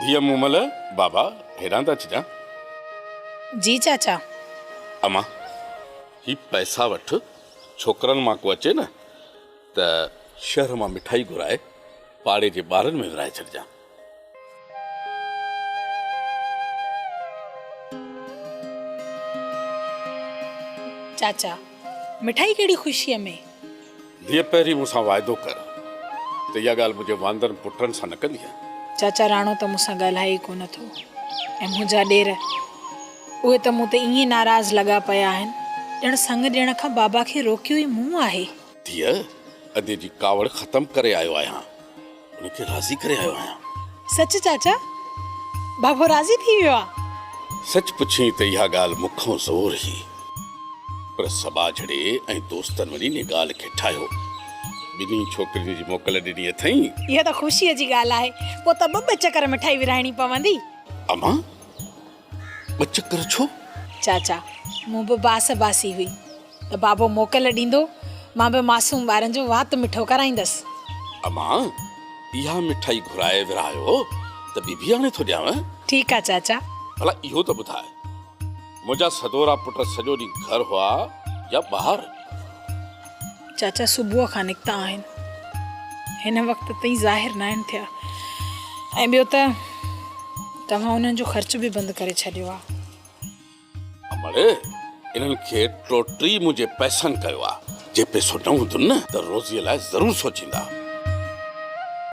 ڌيء مومل، بابا هيڏانهن ته اچجان. جي چاچا. امان هي پئسا وٺ ڇوڪرن مان ڪو اچي نه ته شهر مان مٺائي گهرائي پاڙي جي ٻارن ۾ ورهائي ڇڏجان. چاچا، مٺائي ڪهڙي خوشيء ۾؟ ڌيء پهرين مون سان واعدو ڪر ته اها ڳالهه منهنجي واندرن پٽن سان نه ڪندينء. چاچا، راڻو ته مون سان ڳالهائي ئي ڪونه ٿو ۽ منهنجا ڏير، اهي ته مون تي ائين ناراض لڳا پيا آهن، ڄڻ سڱ ڏيڻ کان بابا کي روڪيو ئي مون آهي. ڌيء، ادي جي ڪاوڙ ختم ڪري آيو آهيان. ان کي راضي ڪري آيو آهيان. سچ چاچا؟ بابو راضي ٿي ويو آ؟ سچ پڇين ته اها ڳالهه مون کان زور هئي. پر سٻاجهڙي ۽ دوستن وڃي ان ڳالهه کي ٺاهيو. ٻنهي ڇوڪرين جي موڪل ڏني اٿئين. اها ته خوشيء جي ڳالهه آهي. پوء ته ٻه ٻه چڪر مٺائي ورهائڻي پوندي. امان! ٻه چڪر ڇو؟ چاچا، مون به باس باسي هئي ته بابو موڪل ڏيندو، مان به معصوم ٻارن جو وات مٺو ڪرائيندس. اما، اها مٺائي گهرائي ورهايو ته ٻي به آڻي ٿو ڏيانء. ٺيڪ آ چاچا. ڀلا اهو ته ٻڌاء، منهنجا سدورا پٽ سڄو ڏينهن گهر هئا يا ٻاهر؟ چاچا صبح کان نڪتا آهن هن وقت تائين ظاهر ناهن ٿيا ۽ ٻيو ته توهان انهن جو خرچ به بند ڪري ڇڏيو آ امڙي انهن کي ٽوٽي منهنجي پئسن ڪيو آ جي پئسو نه هوندن ته روزي لاء ضرور سوچيندا.